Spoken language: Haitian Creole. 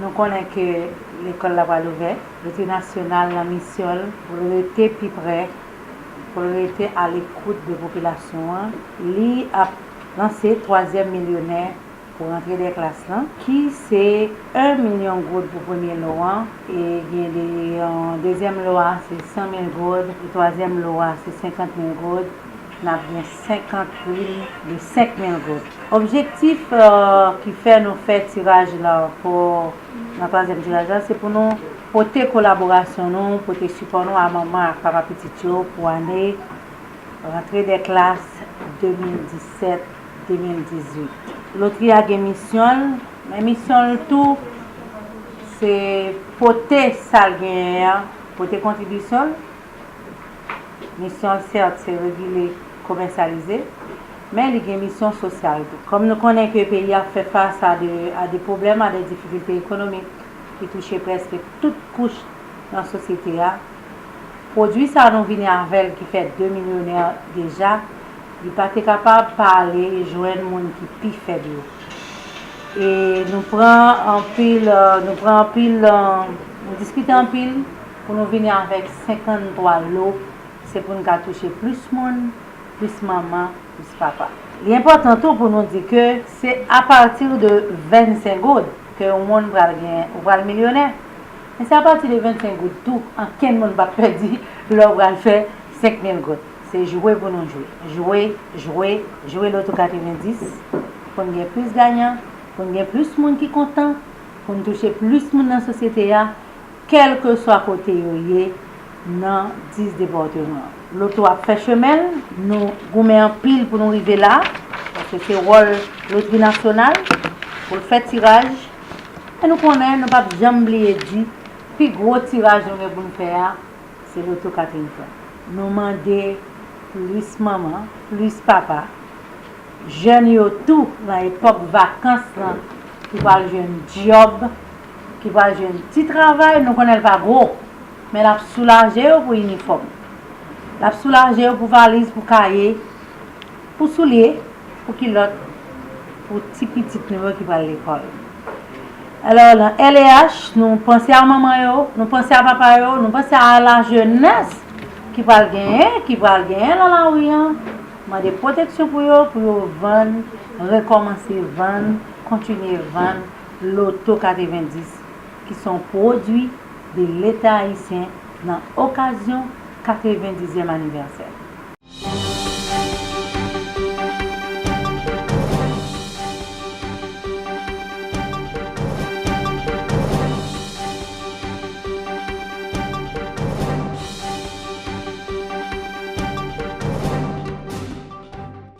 Nou konnen ke lekòl la pral ouvè. Lotri Nasyonal nan misyon l pou l rete pi prè, pou l rete alekout de popilasyon an, li ap lanse twazyèm milyonè pou rantre dè klas lan, ki se 1 milyon goud pou premye lo an, e gen de yon dezyèm lo a se 100 mil goud, e twazyèm lo a se 50 mil goud. N ap gen 50 prime de 5 mil goud. Objektif ki fè nou fè tiraj la ankò nan twazyèm tiraj la se pou nou pote kolaborasyon nou, pote sipò nou a manman ak papa pitit yo pou ane rantre dè klas 2017, 2018. Lotri a gen misyon l, men misyon l tou se pote sa l genyen an, pote kontribisyon l. Misyon l sèt se regile, komèsyalize, men li gen misyon sosyal tou. Kòm nou konnen ke peyi a ap fè fas a de a de pwoblèm, a de difikilte ekonomik ki touche prèske tout kouch nan sosyete a, pwodui sa nou vini avè l ki fè 2 milyonè deja, li pa te kapab pa ale jwenn moun ki pi fèb yo. E nou pran anpil, nou pran anpil, nou diskite anpil. Pou nou vini avèk 53 lo se pou n ka touche plis moun, plis manman, plis papa. Li enpòtan tou pou nou di ke se apati de 25 goud ke yon moun pral gen ou pral milyonè. Men se apati de 25 goud tou ankenn moun pap pèdi lè ou pral fè 5 mil goud. Se jwe pou nou jwe. Jwe, jwe, jwe loto 90 pou n gen plis gayan, pou n gen plis moun ki kontan, pou n touche plis moun nan sosyete a. Kèlkeswa kote yo ye nan 10 depatman. Loto ap fè chemen l, nou goumen anpil pou nou rive la, paske se wòl lotri nasyonal pou l fè tiraj, men nou konnen nou pap janm bliye di pi gwo tiraj nou gen pou n fè a se loto Catherine Frank. Nou mande plis manman, plis papa, jèn yo tou nan epòk vakans lan ki pral jwenn dyòb, ki pral jwenn ti travay, nou konnen l pa gwo, men l ap soulaje yo pou inifòm, l ap soulaje yo pou valiz, pou kaye, pou soulye, pou kilòt pou ti pitit nou yo ki pral lekòl. Alò, nan LEH, nou panse a manman yo, nou panse a papa yo, nou panse a lajenès ki pral genyen, ki pral genyen nan lari an, mande pwoteksyon pou yo, pou yo vann, rekòmanse vann, kontinye vann. Loto 90, ki se yon pwodui de Leta ayisyen nan okazyon 90 zyèm anivèsè l.